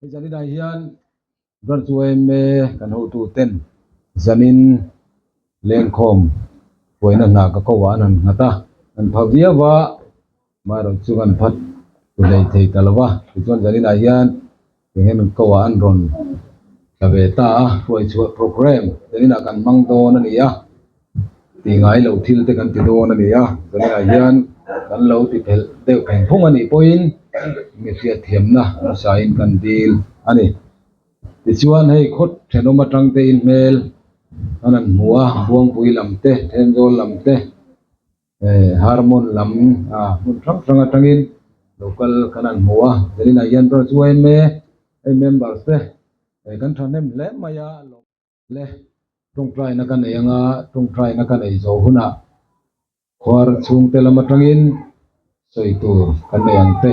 Hei zan inah hian ral chu eme kan hotu ten zanin lengkhawm huaina hna ka ko ah an han nghat a, an pha viau va, amaherawh chu an phat pu lei thei ta lo va, tichuan zan inah hian eng nge min ko ah an rawn tla ve ta a, hruai chhuah programme zan inah kan hmang dawn a ni a. Tih ngai lo thil te kan ti dawn a ni a, tunah hian kan lo ti fel deuh theng thung a nih pawhin mi hriatthiamna hmasain kan dil a ni. Tichuan hei khaw thenawm atangte in hmel a rawn hmu a, Buangpui lam te, Thenzawl lam te, Harmon lam hmun hrang hrang atangin lo kal ka rawn hmu a, tunah hian ram chu a en mai e, hei members te kan thahnem hle mai a. Le tawngtaina ka nei anga tawngtaina ka nei zo hunah khuar chhungte lam atangin sawi tur kan nei ang te,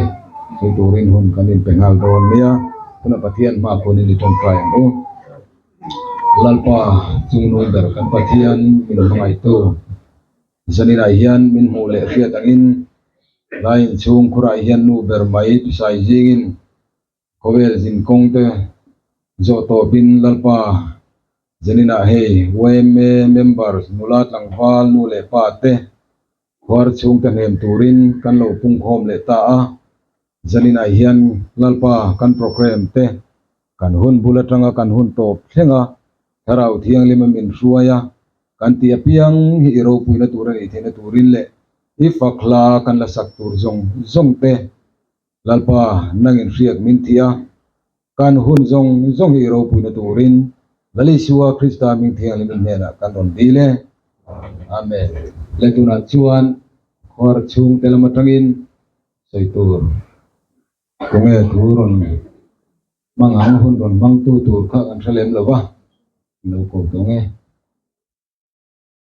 sawi turin hun kan inpe nghal dawn mai a, tunah Pathian hma khunin i tawngtai ang u. Lalpa chungnung ber kan Pathian min hmangaitu Zanina hian min hmuh leh hriat angin, Lai inchhung khurah hian nu ber mai pisai zingin Khawvel zin kawngte zawh tawpin Lalpa Janina hei yma members nula tlangval nu leh pa te khuar chhung ta hnem turin kan lo pungkhawm leh ta a, Janina hian Lalpa kan programme te kan hun bul atanga kan hun tawp thleng a, Thlarau Thianglima min hruai a, kan tih apiang hi i ropuina tur a nih theihna turin leh i fakhla kan la sak tur zawng zawng te Lalpa, nang inhriat min ti a, kan hun zawng zawng hi i ropuina turin Lal Isua Krista ming thianghlim in hnenah kan rawn dil e. Amen. Leh tunah chuan khuar chhung te lam atangin sawi tur tunge thu rawn hmang ang, hun rawn hmangtu tur kha kan hre lem lo va, min lo ko tawng e.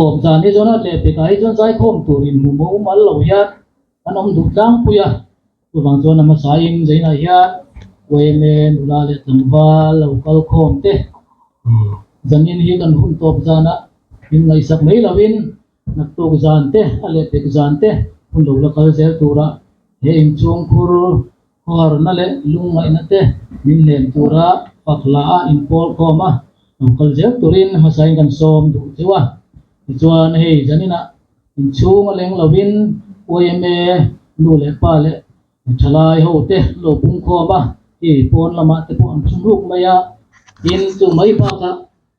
Awm dan hi chuan a leh pekah hi chuan zaikhawm tur inhmu maw um al lo hian an awm duh tlangpui a, chuvang chuan a hmasain zainah hian Uaeme, Nula leh Tlangva lo kal khawm te ni zanin hi kan hun tawp zana min ngaihsak mai lovin naktuk zan te a lehpek zan te hun lo la kal zel tura he inchhungkhur Khuarna leh lungngaihna te min lem tura pakla a inpâwl khâwm a, lo kal zel turin hmasain kan sâwm duh chu a. Tichuan hei zaninah inchhûng a leng lovin uaime nu leh pa leh thalai ho te an lo pung khâwm a, hei pâwn lamah te pawh an chhûng rûk mai a, tin chu mai bâkah,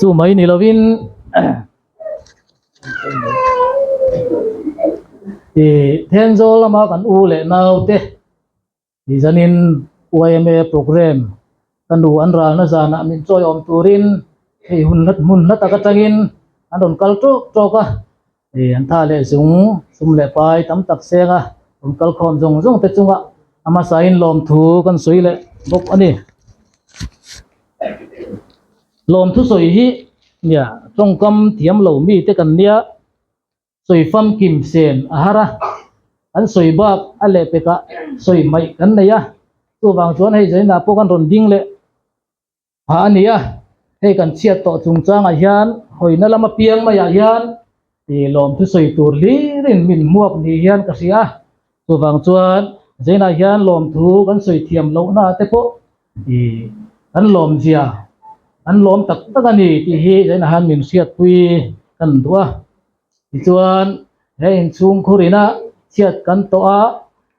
chu mai ni lovin ihh then zawl lama kan u leh nau te tizanin yma programme -- Ka nu an ralna zanah min chawi awm turin hei hun hla hmun hla tak atangin an rawn kal trawk trawk a, hei an tha leh zung sum leh pai tam tak senga rawn kal khawm zawng zawng te chunga a hmasahin lawm thu kan sawi leh bawk a ni. Lawm thusawi hi nia tawngkam thiam lo mite kan nia. sawi famkim sen a har a, an sawi bak a leh pekah sawi hmaih kan nei a, chuvang chuan hei zainah pawh kan rawn ding leh phah a ni a, hei kan chhiat tawh chungchangah hian hawina lam apiang maiah hian ih lawmthu sawi tur hlir in min hmuap ni hian ka hria. Chuvang chuan zenah hian lawmthu kan sawi thiam lohna te pawh ih kan lawm zia, an lawm tak tak a ni tih hi zenah hian min hriatpui ka han duh a. Tichuan he inchhungkhur ina chhiat kan tawh a,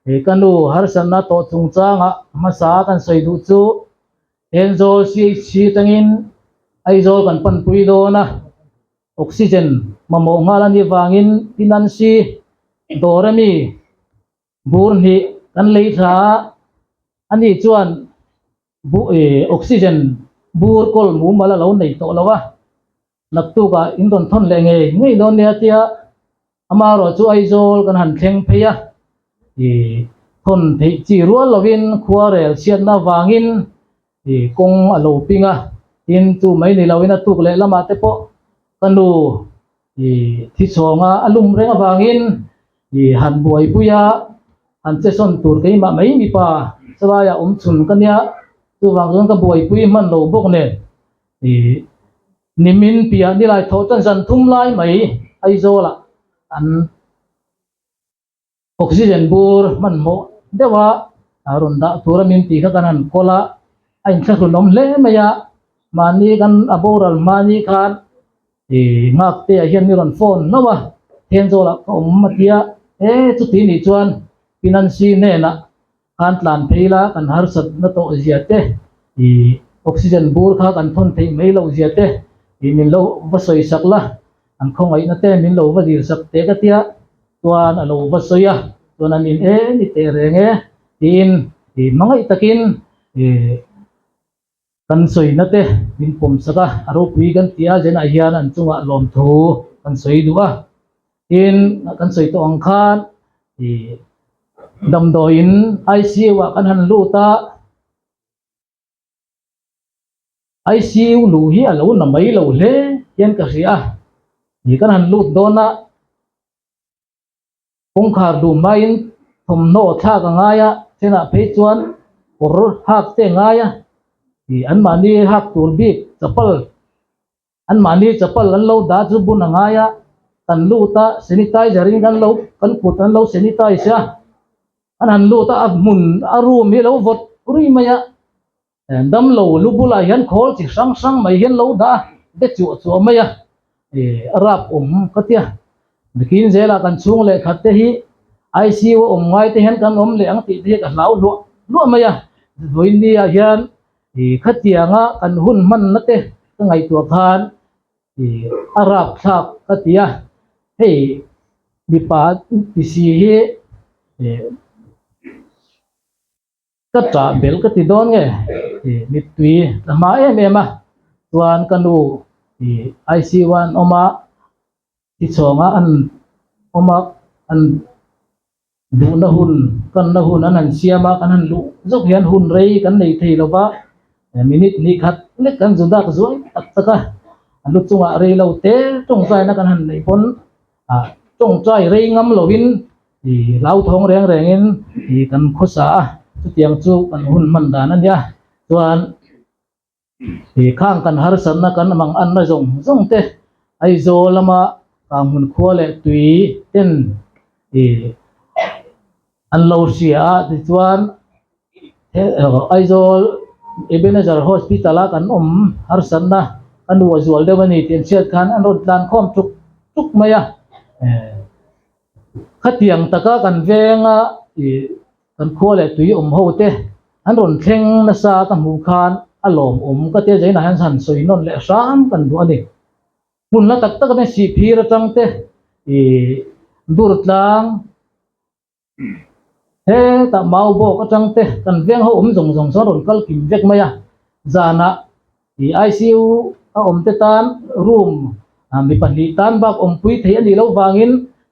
ih ka nu harsatna tawh chungchanga hmasa kan sawi duh chu Enzawl CHC atangin Aizawl kan panpui dawn a. Oxygen mamawh nghal a nih vangin Pinansi dawr ami bur hnih kan lei thla a, ani chuan Oxygen bur kawl mumal a lo nei tawh lo a, naktuk ah in rawn thawn leh ngei ngei dawn nia tia. Amah ruah chu Aizawl kan han thleng phei a, i thawn theih chi rual lovin khuarel chhiatna avangin i kawng a lo ping a, tin chu mai ni loin a tuk leh lamah te pawh ka nu i thi chhawng a lum reng avangin i han buaipui a, han che sawn tur keimah mai mipa chavaia awm chhun ka nia, chuvang chuan ka buaipui hman lo bawk nen i. Nimin piah nilai tho chuan zan thum lai mai Aizawlah an oxygen bur hmanhmawh deuha rawn dah tura min tih kha kan han kawl a, a inthlahrunawm hle mai a, mahni kan a boral hmani khan ih Ngaktea hian ni rawn phone hlauh a, Thenzawlah ka awm a tia, e chutih nih chuan Pinancy hnenah Khan tlan phei la kan harsat na tawh zia te i oxygen bur kha kan thawn theih mai lo zia te i min lo va sawi sak la, an khawngaihna te min lo va zir sak teh ka tia chuan a lo va sawi a, chuan an in e ni teh reng e tiin i hmangaih takin i Kan sawi nate min pawm sak a, a ropui kan ti a, Jen-ah hian an chungah lawmthu kan sawi duh a, tin kan sawi tawh ang khan ih damdawiin ICU-ah kan han lut a, ICU luh hi a lo na mai lo hle hian ka hria a, ih kan han lut dawn a, kawngkhar dum hmaiin thawmhnaw thlak a ngai a, chenah phei chuan kawr hak te a ngai a, ih anmahni hak tur bik chapal anmahni chapal an lo dah chu bun a ngai a, kan lut a sanitizer in an lo kan kut an lo sanitize a, an han lut a a hmun a room hi a lo vawt rilh mai a. Damlo lu bulah hian khawl chi hrang hrang mai hian lo dah a, be chuah chuah mai a, a rapawm ka tia, bikin zela kan chhung leh khat te hi ICU a awm ngai te hian kan awm leh ang tih te hi ka hlau hluah hluah mai a, vawinia hian khatianga kan hun hmanna te ka ngaihtuah khan a rapthlak ka tia, hei mipa tisi hi. Ka chah bel ka ti dawn nge? Ih, mittui ka hma em em a, chuan ka nu hi ICU-ah an awm a, thi chhawngah an awm a, an duhna hun, kanna hun an han siam a, kan han luh zawk hian hun rei kan nei thei lo va, minute hnih khat lek kan zu dak zuai tak tak a, a lu chungah rei lo te tawng zaina kan han neih pawn. a tawngtai rei ngam lovin ih hlau thawng reng rengin ih kan khawsa a chutiang chu kan hun hman dan ania chuan ih khang kan harsatna kan mang anna zawng zawng te Aizawl lama kang hmun khua leh tui ten ih. An lo hria a, tichuan Aizawl Ebenezer Hospital a kan awm harsatna ka nuah zual deuh a ni tih an chhiat khan an rawn tlan khawm tuk tuk mai a, khatiang taka kan veng a kan khua leh tui awm ho te an rawn thleng nasa ka hmuh khan a lawmawm ka ti a, zainah hian sawi nawn leh hram kan duh a ni. Hmun la tak tak atin sihphir atang te ih durtlang hetah mau bawk atang te kan veng ho awm zawng zawng sawn rawn kal kim vek mai a, zanah ih ICU a awm te tan room mi pahnih tan bak awmpui theih a nih loh vangin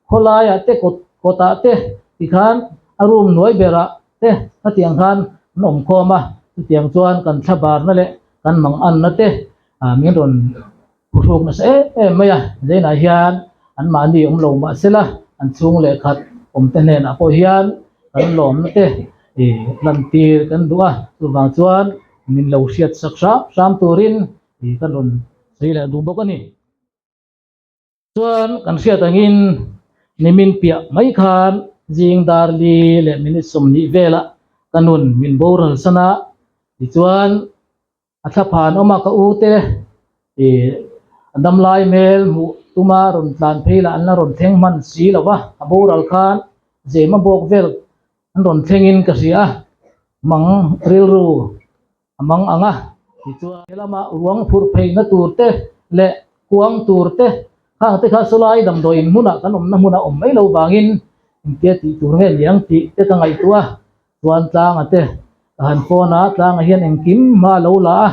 khawlaiah te kawt kawtah te tikhan a room hnuai berah te hetiang khan an awm khawm a, chutiang chuan kan thla barna leh kan mang anna te A min rawn pu hruk nasa em em mai a, zenah hian anmahni awm lo mah sela an chhung leh khat awm te hnenah pawh hian kan lawm nate lantir kan duh a, chuvang chuan min lo hriatsak hrâm hrâm turin kan rawn sawi leh duh bawk a ni. Chuan kan hriat angin nimin piah mai khan zing dar li leh minute sawmnih vela ka nun min boral san a, tichuan a thla phan awm a ka u te ih a dam lai hmel hmuh tuma rawn tlan phei lah an la rawn thleng hman si lo va, a boral khan zema bawk vel an rawn thlengin ka hria a mang rilru. a mang ang a, tichuan. He lama ruang phurh pheina tur te leh kuang tur te khang te kha sawlai damdawi inhmuna kan awmna hmuna awm mai lo vangin engtia tih tur nge liang tih te ka ngaihtuah a, chuan Tlanga te ka han phone a, Tlanga hian engkim hma a lo la a,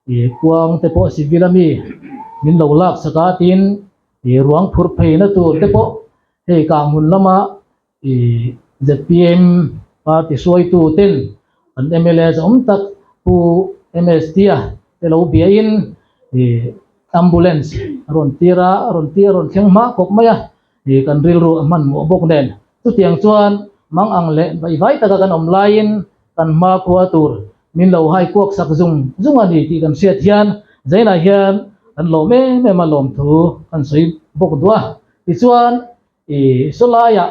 i kuang te pawh civil a mi min lo laksak a, tin i ruang phurh pheina tur te pawh hei kang hun lama I zpm party hruaitu ten an mla zawng tak pu MS Tia te lo bia in i ambulance a rawn tir a, a rawn tir a rawn thleng hma kawp mai a, i kan rilru a hmanhmawh bawk nen chutiang chuan mang ang leh vai vai taka kan awm lai in kan hma khua tur min lo hai kuak sak zung zung a ni tih kan hriat hian zain ah hian kan lawm em em a lawmthu kan sawi bawk duah tichuan I sawlaiah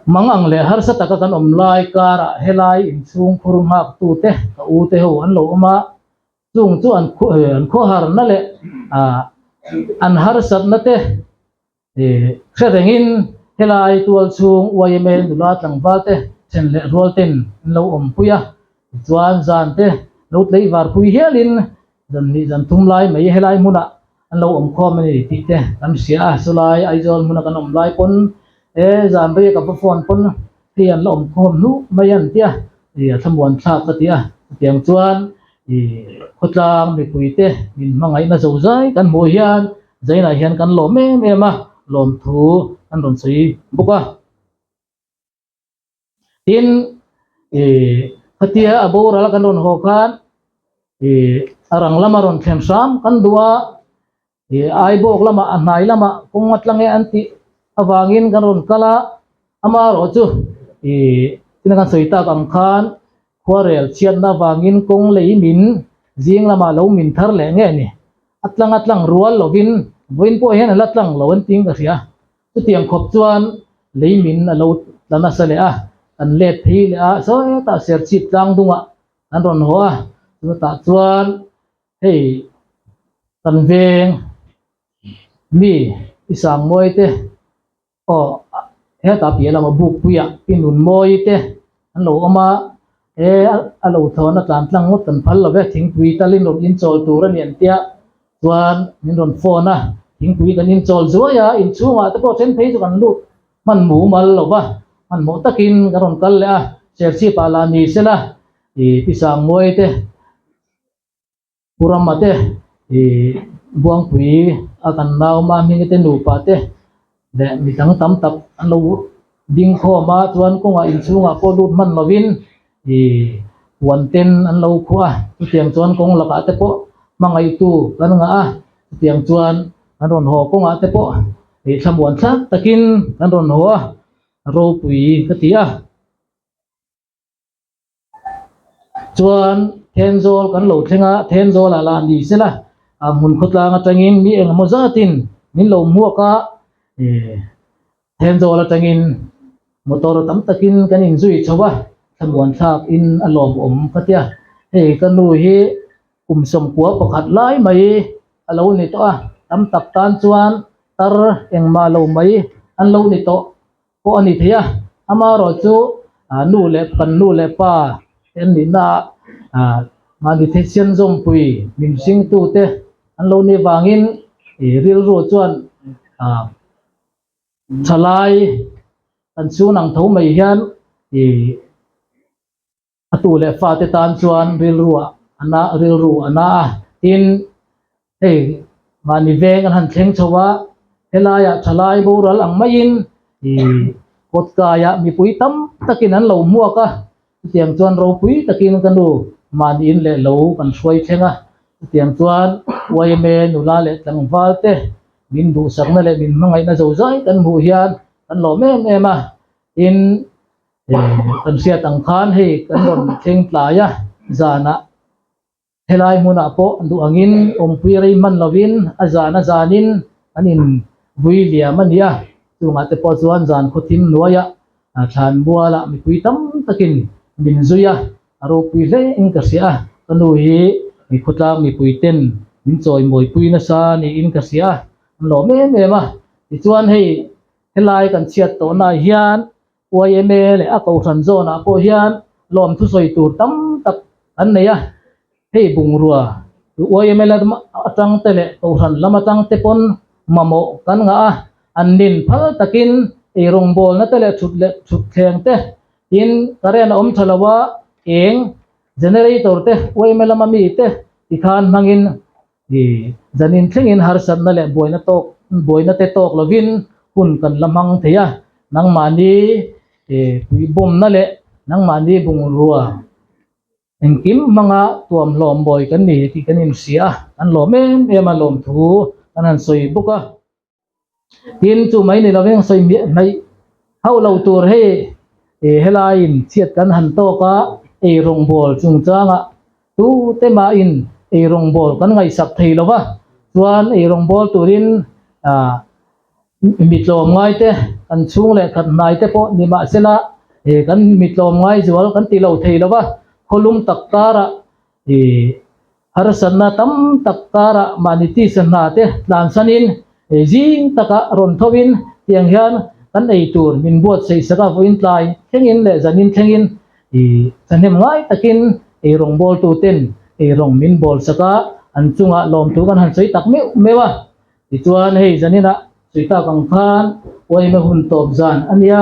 mang ang leh harsa taka kan awm lai karah helai inchhung khur nghakhtute ka ute ho an lo awm a, chung chu an khawharna leh an harsatnate hre rengin helai tualchhung YMA nula tlangvalte then leh rualtein an lo awmpui a, Chuan zante lo tleih varpui hialin zanhnih zan thum lai mai helai hmunah an lo awm khawm a ni tih te kan hria a, chulai Aizawl hmuna kan awm lai pawn e zan rei a ka va phone pawn hei an la awm khawm hnuh mai an tia i a thlamuan thlak ka ti a, chutiang chuan i khawtlang mipui te min hmangaih na zo zai kan hmuh hian zainah hian kan lawm em em a lawmthu an rawn sawi bawk a. Tin, i, khatia a boral kan rawn haw khan, i, a rang lama rawn thlen hram kan duh a, i, a aibawk lamah, a hnai lamah kawng nga tla nge an tih avangin kan rawn kal a, ama erawh chu, i, tuna kan sawi tak ang khan khuarel chhiatna avangin kawng lei min zing lamah lo min thar leh nge ni, a tlang a tlang rual lovin vawiin pawh hian a la tlang lo an tiin ka hria. Chuti ang khawp chuan lei min a lo tla nasa leh a, kan let phei leh a sawhetah serchhip tlang dungah kan rawn haw a, chuatah chuan hei kan veng mi i sang mawi te aw hetah piah lamah bukpuiah i nun mawi te an lo awm a, He a lo thawn atlan tlang ngawt kan phal love, thingpui talin rawn inchawl tur a ni an tia chuan min rawn phone a, thingpui kan inchawl zuai a, inchhungah te pawh a then phei chu kan lut hman mumal lova, hmanhmawh takin kan rawn kal leh a, Shership-ah la ni sela, i Pisangnguaite, Kurama te, ih, Buangpui a kan lauma hmingite nupa te leh mi dang tam tak an lo ding khawm a, chuan kawngah inchhungah pawh lut hman lovin, ih, puan ten an lo khuh a, chutiang chuan kawng lakah te pawh hmangaitu kan ngah a, chutiang chuan kan rawn haw kawngah te pawh, ih, thlamuan thlak takin kan rawn haw a, Ropui ka ti a. Chuan Thenzawl kan lo thleng a, Thenzawlah lah ni se la, a hmun khawtlang atangin mi eng emaw zatin min lo hmuak a, Thenzawl atangin motor tam takin kan in zui chho a, thlamuan thlakin a lawm awm ka tia, hei ka nu hi kum sawmkua pakhat lai mai a lo ni tawh a, tam tak tan chuan tar engmah lo mai an lo ni tawh. pawh a ni thei a, amaherawhchu chu nu leh kan nu leh pa te an nihna ah mahni theichian zawmpui hnim hring tu te an lo ni avangin ih rilru chuan ah thalai kan chhunang tho mai hian ih A tu leh fa te tan chuan rilru ah a na a, rilru a na a. Tin, hei mahni veng an han thleng chho a, helaiah thalai boral ang maiin ih kawtkaiah mipui tam takin an lo hmuak a, chutiang chuan ropui takin ka nu mahniin leh lo kan hruai thleng a. Chutiang chuan yma nula leh tlangval te min duhsakna leh min hmangaihna zo zai kan hmuh hian kan lawm em em a. Tin, Kan hriat ang khan hei kan rawn thleng tlai a, zanah helai hmunah pawh duh angin awmpui rei hman lovin a zana zanin an in vui liam a nia, chungah te pawh chuan zan khawthim hnuaiah thlan buala mipui tam takin min zui a, a ropui hle in ka hria a, ka nu hi khawtlang mipui ten min chawi mawipui nasa niin ka hria a, an lawm em em a, tichuan hei helai kan chhiat tawh nai hian. yma leh a kohhran zawnah pawh hian lawm thusawi tur tam tak an nei a, hei bungrua yma lam atang te leh kohhran lam atang te pawn mamawh kan ngah a, an nin phal takin ei rawngbawlna te leh thut leh thutthleng te tin current a awm tha lo a, eng generator te yma lama mite tikhan hmangin Hi zanin thlengin harsatna leh buaina tawk buaina te tawk lovin hun kan la hmang thei a, nangmahni pui bawmna leh nangmahni bungrua engkim hmanga tuam hlawm bawi kan ni tih kan inhria a, kan lawm em em a lawmthu kan han sawi bawk a. tin chu mai nei loveng sawi miah hnaih hauh lo tur hi ih helaiin chhiat kan han tawk a ei rawngbawl chungchanga tute mahin ei rawngbawl kan ngaihsak thei lova chuan ei rawngbawl turin ah mi tlawm ngaite kan chhung leh khat hnaite pawh ni mahsela ih kan mi tlawm ngai zual kan tilo thei lova khawlum tak tarah. I harsatna tam tak karah mahni tisa hna te tlansanin ei zing takah rawn thoin tiang hian kan ei tur min buatsaih saka vawiin tlai thlengin leh zanin thlengin i sahnem ngai takin ei rawngbawltu ten ei rawng min bawl saka an chunga lawmtu kan han sawi tak meuh meuh a. Tichuan hei zaninah Suitak ang khan uaina hun tawp zan a nia.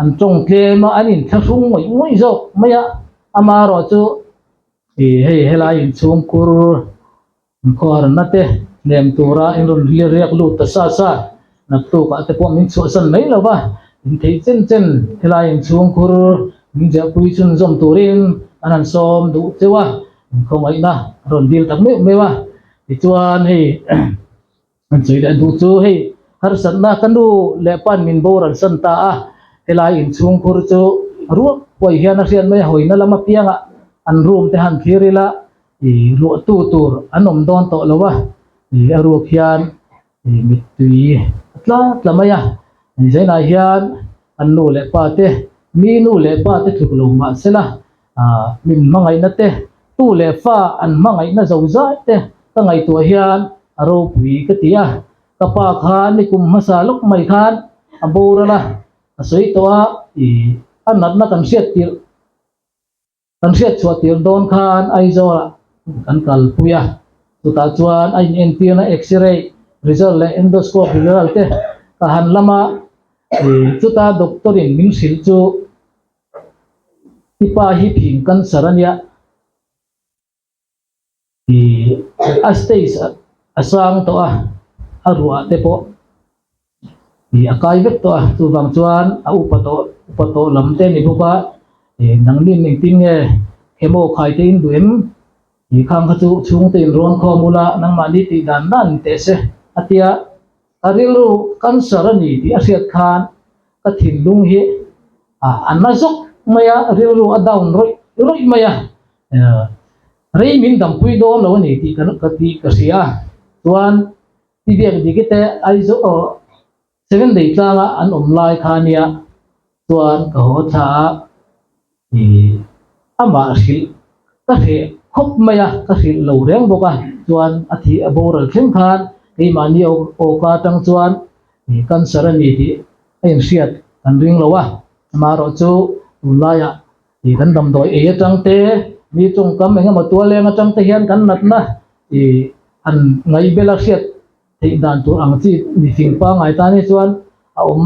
An tawng tlem a, an inthlahrung ngawih ngawih zawk mai a, ama erawh chu i hei helai in chhungkur in khuaranna te lem tura in rawn hlir riak lut ta sa sa, naktukah te pawh min chhuahsan mai lo va, in thei chen chen helai in chhungkur min ziahpui chhun zawm turin an han sawm duh cheu a, in khawngaihna a rawn dil tak meuh meuh a, tichuan hei. Kan sawi leh duh chu hei harsatna ka nu leh pa'n min boral san ta a, helai in chhungkhur chu ruak puai hian a hriat mai a, hawina lam apiangah an room te han thlir ila luahtu tur an awm dawn tawh lo a, a ruak hian mittui a tla tla mai a, zainah hian an nu leh pa te mi nu leh pa te thluk lo mahsela. Min hmangaihna te, tu leh fa an hmangaihna zo zai te ka ngaihtuah hian a ropui ka ti a, ka pa khan i kum hmasa lawk mai khan a boral a, ka sawi tawh a, ih a natna kan hriat tirh kan hriat chhuah tirh dawn khan Aizawlah kan kalpui a, chutah chuan a in entirna X-ray result leh endoscope result te ka han lam a, ih chuta doctor in min hrilh chu. I pa hi thing cancer a nia. Ih, a stage a sang tawh a, a ruah te pawh ih a kai vek tawh a. Chuvang chuan a upa tawh, upa tawh lam te a ni bawk a. Ih, nangni an engtin nge? Chemo khai te in duh em? Ih, khang kha chu chhungte in rawn khawm ula, nangmahni tih dan dan in teh se, a tia. Ka rilru kan sar a ni tih a hriat khan ka thinlung hi a na zawk mai a, rilru a down rawih rawih mai a, rei min dampui dawn lo a ni tih ka tih ka hria a, chuan i biak dik ite Aizawl aw Seven Day tlanga an awm lai khania chuan ka haw thla a. Hi amah hrilh ka hreh khawp mai a, ka hrilh lo reng bawk a, chuan a thih a boral thleng khan keimahni awk atang chuan cancer a ni tih a inhriat kan ring lo a, amaherawh chu tunlaiah kan damdawi ei atang te, mi chawngkam engemaw tualeng atang te hian kan natna han ngaih bela hriat theih dan tur ang chi mihring pangngai tan hi chuan a awm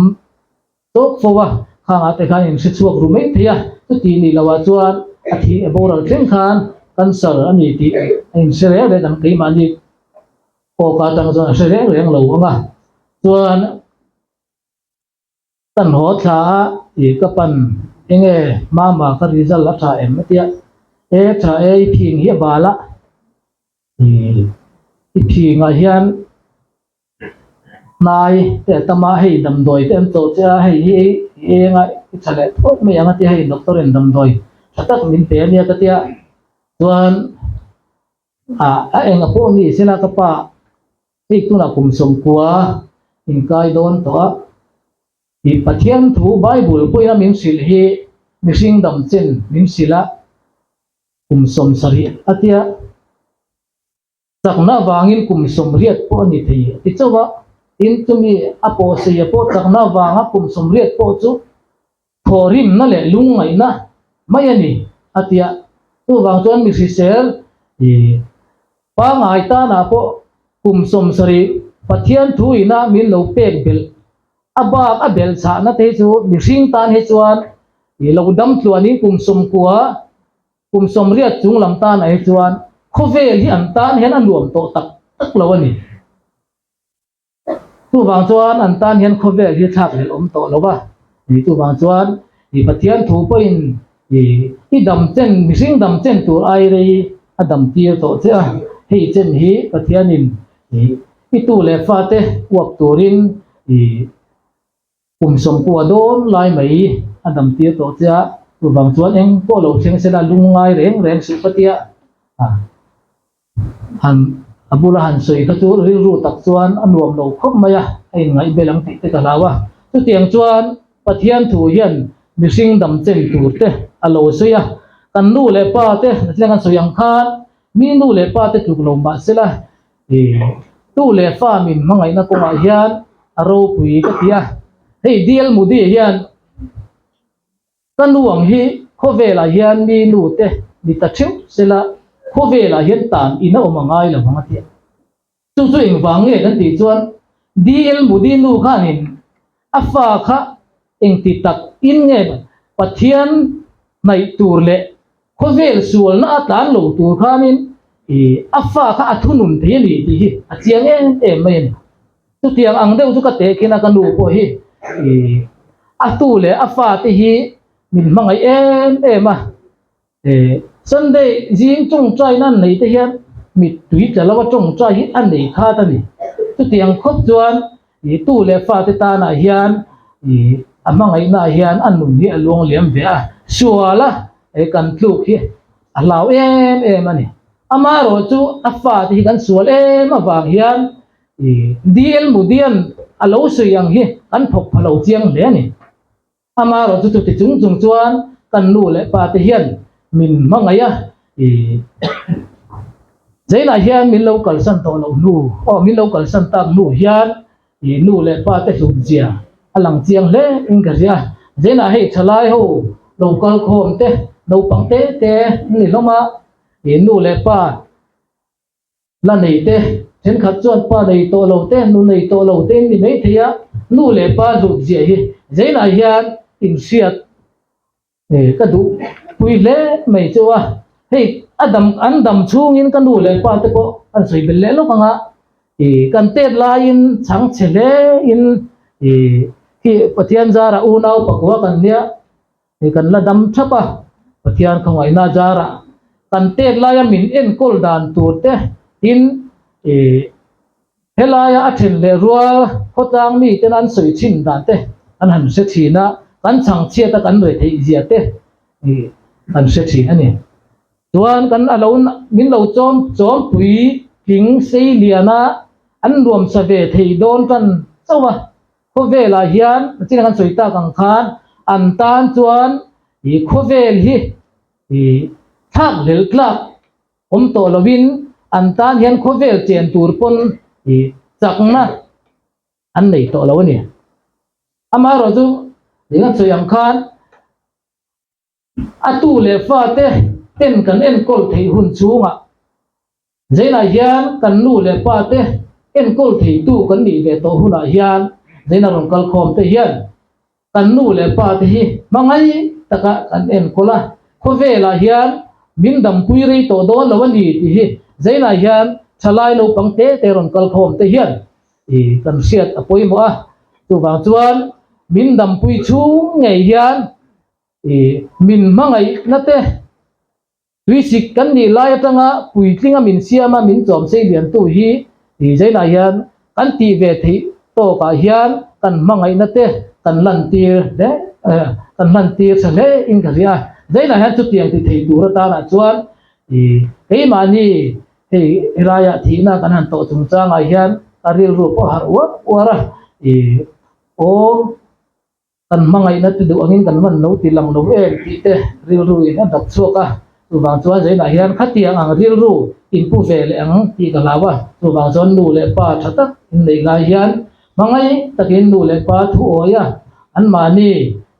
Tawk fo a, khangah te khan in hre chhuak ru mai thei a, chutih nih loh ah chuan a thih e boral thleng khan cancer a ni tih a in hre reng reng ang, keimahni awk atang chuan a hre reng reng lo ang a, chuan ka hnawh thla a ih ka pan enge mama ka result a tha em a tia, e tha e i phing hi a bal a, i phingah hian. Hnai te a tam a, hei damdawi te an tlo che a, hei hi i eng a, i chha leh phawt mai ang a tia hei doctor in damdawi tha tak min pe ania ka tia, chuan ah a eng a pawh a nih sela ka pa hei tunah kum sawmkua in kai dawn tawh a, i Pathian thu bible pawhin a min hrilh hi mihring dam chen min hrilh a, kum sawm sarih a tia. Chakna vangin kum sawmriat pawh a ni thei a ti chauh a, tin chumi a paw seia pawh chakna vanga kum sawmriat pawh chu thaw rimna leh lung ngaihna mai a ni a ti a, chuvang chuan mi hriser ih pangai tana pawh kum sawm sarih Pathian thu ina min lo pek belh a bak a belh chhahna te hi chu mihring tan hi chuan ih lo damtluanin kum sawmkua Kum sawmriat chung lam tan ai chuan khawvel hi an tan hian a nuam tawh tak tak lo a ni. Chuvang chuan an tan hian khawvel hi thlak leh awm tawh lo a ni. Chuvang chuan ih Pathian thu pawhin ih i damchen mihring damchen tur ai rei a damtir tawh che a. Hei chen hi Pathianin ih i tu leh fate uap turin ih Kum sawmpua dawn lai mai a damtir tawh che a, chuvang chuan eng pawh lo thleng se la lungngai reng reng suh patia han a bula han sawi kha chu rilru tak chuan a nuam lo khawp mai a, a inngaihbel ang tih te ka hlau a, chutiang chuan Pathian thu hian mihring dam chen tur te a lo sawi a, kan nu leh pa te thleng an sawi ang khan mi nu leh pa te tluk lo mahse la Tu leh fa min hmangaihna kawngah hian a ropui ka ti a, hei Dl Mudi hian ka nu ang hi khawvelah hian mi nu te ni ta theuh sela khawvelah hian tan in a awm a ngai lo ang a ti a, chu chu engvang nge kan tih chuan Dl Mudi nu khanin A fa kha engti tak in nge Pathian hnaih tur leh khawvel sualna a tlan lo tur khanin i a fa kha a thunun thei a ni tih hi a chiang em em mai a ni. Chutiang ang deuh chu ka teh khin a ka nu pawh hi i a tu leh a fate hi min hmangaih em em a He Sunday zing tawngtai nan neih te hian mittui tla lo a tawngtai hi a nei khat a ni. Chutiang khawp chuan ih tu leh fa te tanah hian ih a hmangaihnaah hian a nun hi a luang liam ve a, sual a eh kan tluk hi a hlau em em a ni. Amaherawh chu a fa te hi kan sual em avang hian ih dil mudian a lo sawi ang hi kan thawk phalo chiang hle a ni. Amaro chu chuti chung chung chuan kan nu leh pa te hian min hmangaih a, i Zainah hian min lo kalsan tawh loh hnu aw min lo kalsan tak hnu hian i nu leh pa te hluk zia a lang chiang hle in ka hria, Zainah hei thalai ho lo kal khawm te naupang te te an ni hlawm a, i nu leh pa La nei te, thenkhat chuan pa nei tawh lo te, nu nei tawh lo te an ni maithei a, nu leh pa hlutziah hi zeinah hian inhriat ka duh pui hle mai chu a, hei a dam an dam chhungin ka nu leh pa te pawh an sawi belh leh lawk ang a, ih kan tet laiin chhang chhe hlein ih khi Pathian zara unau pakua kan nia. Hei kan la dam thap a, Pathian khawngaihna zarah kan pek laia min enkawl dan tur te in i helaia a then leh rual khawtlang miten an sawi chhin dan te an han hre thin a, kan chhangchhiat a kan retheih zia te i kan hre thin a ni. Chuan kan alo min lo chawm chawmpui tling sei liana an nuam sa ve thei dawn tan chauh a. Khawvelah hian a chin a kan sawi tak ang khan an tan chuan ih khawvel hi ih thlak lel tlak awm tawh lovin an tan hian khawvel chen tur pawn ih chakna an nei tawh lo a ni. Amaherawhchu ih a sawi ang khan. A tu leh fa te ten kan enkawl theih hun chungah zainah hian kan nu leh pa te enkawl theitu kan nih ve tawh hunah hian zaina rawn kal khawm te hian kan nu leh pa te hi hmangaih taka kan enkawl a, khawvelah hian min dampui rei tawh dawn lo a ni tih hi zainah hian thalai naupang te te rawn kal khawm te hian ih kan hriat a pawimawh a, chuvang chuan min dampui chhung ngei hian Min hmangaihna te, Tuisik kan nih lai atanga puitling a min siam a min chawm sei lian tu hi zainah hian kan tih ve theih tawkah hian kan hmangaihna te kan lantir hle kan hlantir tha hle in ka hria zainah hian chutiang ti thei tur atanah chuan keimahni hei helaiah thihna kan han tawh chung changah hian ka rilru pawh a harh uar uar a awm. Kan hmangaihna te duh angin kan hman lo tih lang lo em tih te rilru in a dat chhuak a, chuvang chuan zainah hian khatiang ang rilru in pu ve leh ang tih ka hlau a, chuvang chuan nu leh pa tha tak in neih lai hian hmangaih takin nu leh pa thu awi a, anmahni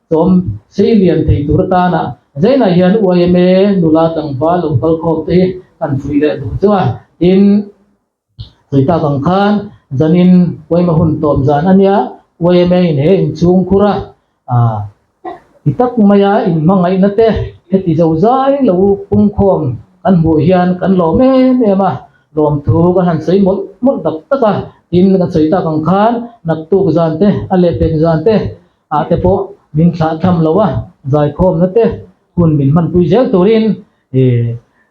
sawm sei lian thei tur atana zainah hian uaia me nula tlangval lo kal khawm te hi kan fuih leh duh chuan in. Tui tak ang khan zanin Uaima hun tawm zan ania Uaima in he inchhungkhura ti tak maia in hmangaihna te heti zo zai lo pungkhawm kan hmuh hian kan lawm em em a, lawm thu kan han sawi mawlh mawlh tak tak a, tin kan sawi tak ang khan naktuk zan te a leh pek zan te ah te pawh min thlah tham lo a, zaikhawmna te hun min hmanpui zel turin